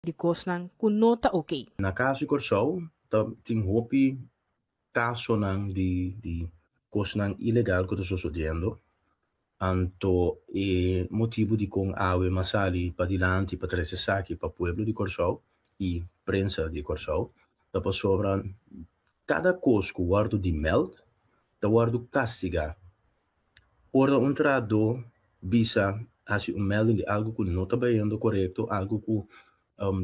di kosnan ku no ta oké. Na kaso di Kòrsou ta tin hopi kasonan di di kosnan ilegal ku ta sosodiendo, anto e motibu dikon awe m'a sali padilanti pa trese esaki pa pueblo di Kòrsou i prensa di Kòrsou ta pasobra kada kos ku wòrdu dimèld ta wòrdu kastigá. Ora un trahadó bisa hasi un melding di algu ku no ta bayendo korekto, algu ku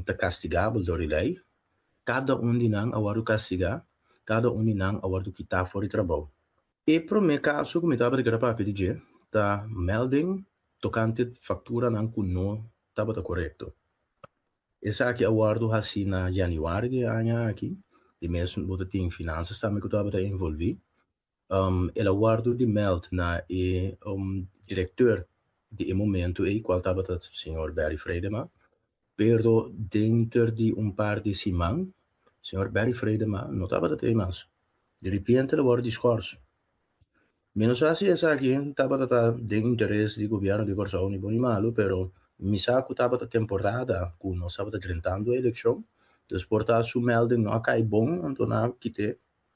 ta kastigabel dor di lei, kada un di nan a wòrdu kastigá, kada un di nan a wòrdu kitá for di trabou. E promé kaso ku mi tabata di keda papia di dje ta melding tokante fakturanan ku no tabata korekto. Esaki a wòrdu hasi na yanüari di e aña aki, di mes bo ta tin finansas tambe ku tabata envolví, Um, el a wòrdu dimèld na e um direkteur di e momentu ei, kual tabata señor Berry Vreidema, pero denter di un par di siman, señor Berry Vreidema no tabata ta ei mas. Di ripiente el a wòrdu diskòrsu. Mi no sa si esaki tabata ta den interes di gobièrnu di Kòrsou, ni bon ni malu, pero mi sa ku tabata temporada ku nos tabata drentando e elekshon, dus por ta su mèlding no a kai bon, anto nan kit e.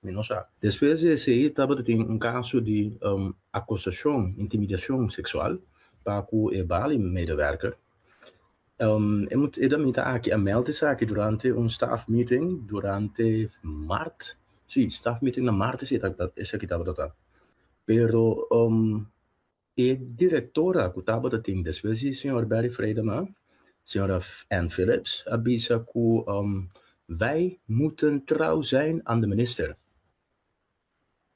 Mi no sa. Despues di esei tabata tin un kaso di akosashon, intimidashon seksual pa ku e Bali medewerker. E damita aki a meld esaki durante un staf meeting durante Mart, si, staf meeting na Mart esei esaki tabata ta. Pero E direktora ku tabata tin despues di señor Barry Vreidema, señora Ann Phillips, a bisa ku Wij moeten trouw zijn aan de minister.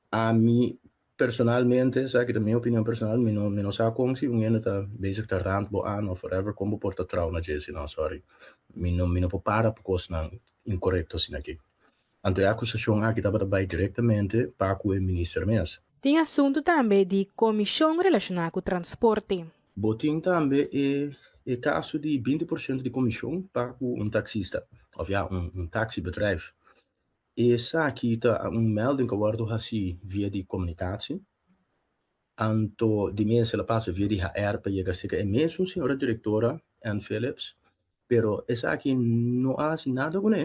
Ami personalmente, esaki ta mi opinion personal, mi no mi no sa kon si un hende ta bezig ta rant bo aan of whatever kon bo por ta trouw na dje si no, sorry. Mi no mi no por para pa kosnan inkorekto asin'aki. Anto e akusashon aki tabata bai direktamente pa ku e minister mes. Tin asuntu tambe di komishon relashoná ku transporte. Bo tin tambe e e kaso di binti por shento di komishon pa ku un taksista òf ya un un taksibedrijf. Esaki ta un melding ku a wòrdu hasi via di komunikasje. Anto di mester la pasa via di HR pa yega seka e mesun señora Directora Ann Phillips, pero esaki no a hasi nada cu ne.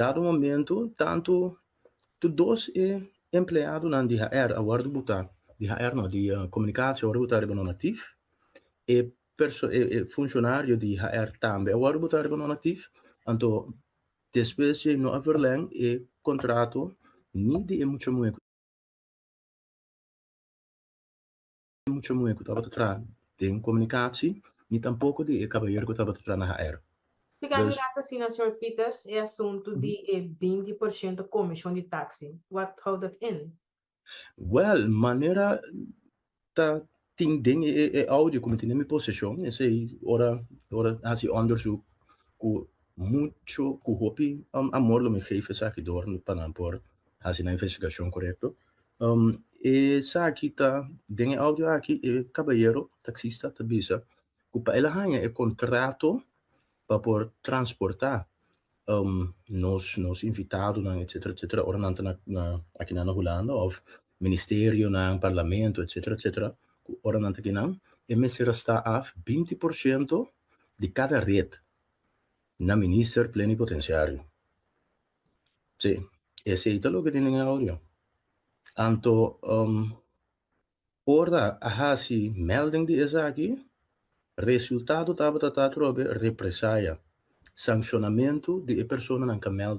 Dado momento tanto tur dos e empleadonan di HR a wordo buta, di HR no, di Comunicatie a wordo buta riba non-actief, e perso, e funcionario di HR tambe a wordo buta riba non-actief, anto despues dje no a verleng e contrato ni di e mucha muhe cu. mucha muher ku tabata traha den komunikasi ni tampoko di e kabayer ku tabata traha na HR. Tika mi rat asina Sr. Peters e asuntu di e binti por shento komishon di taksi what how dat end? Well manera ta tin den e audio ku mi tin den mi poseshon esei ora ora hasi ondersuk ku mucho ku hopi amor lo mi geef esaki dor pa nan por hasi nan investigashon korekto Um, esaki ta, den e audio aki, e cabayero, taxista, ta bisa cu pa el a hanja e contrato pa por transporta um, nos, nos invitadonan, etcetera, etcetera, ora nan ta na, na, aki nan na Hulanda, of ministerionan, parlamento, etcetera, etcetera, cu ora nan ta akinan, e mester a sta af binti por ciento di cada ret na minister plenipotenciario. Sí, esey ta loke tin den e audio. Anto um, ora a hasi melding di esaki, resultado tabata ta atrobe represaya, sanccionamento di e personanan ca meld